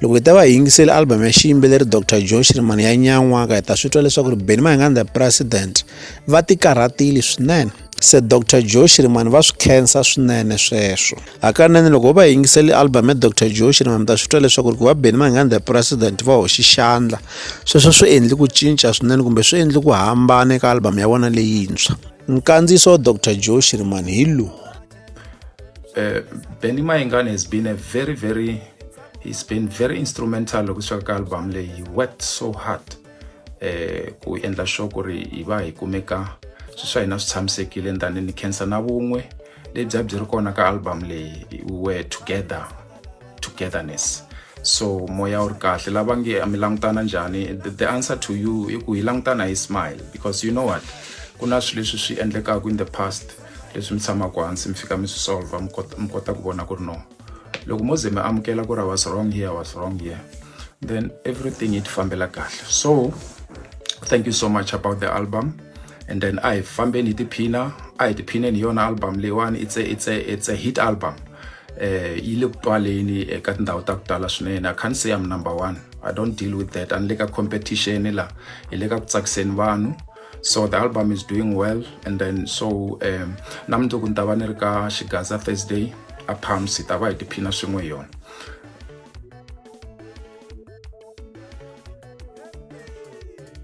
loko hi ta va hi yingiseli album ya xiyimbeleri dr joe shirimani ya nyan'waka hi ta swi twa leswaku ri beni mahinganda president va tikarhatile swinene se dr joe shirimani va swi khensa swinene sweswo hakanene loko ho va yingiseli album ya dr joe shirimani mi ta swi twa leswaku ri ku va beni mahinganda president va hoxi xandla sweswo swi endli ku cinca swinene kumbe swi endli ku hambana eka album ya vona leyintshwa nkandziyiso wa dr joe shirimani hi lowu uh, Benny Mayengani has been a very very he's been very instrumental loko swi ka album leyi he worked so hard eh ku endla sure ku ri hi va hi kumeka swi swa hina swi tshamisekile ndani ni khensa na vun'we lebyi a byi ri kona ka album leyi were together togetherness so moya wu ri kahle lava nge mi langutana njhani the, the answer to you i ku hi langutana hi smile because you know what ku na swilo leswi swi endlekaka in the past leswi mi tshamaka hansi mi fika mi swi solver mi kota mi kota ku vona ku ri no loko mo ze mi amukela ku ri i was wrong here was wrong here then everything yi ti fambela kahle so thank you so much about the album and then a hi fambeni hi tiphina a hi tiphineni hi yona album leyiwani it's a, it's a, it's a hit album eh yi le ku twaleni eka tindhawu ta ku tala swinene i can't say i'm number one i don't deal with that a ni le ka competition la hi le ka ku tsakiseni vanhu so the album is doing well and then so um na mundzuku ni ta va ni ri ka xigaza thursday a palms hi ta va hi tiphina swin'we hi yona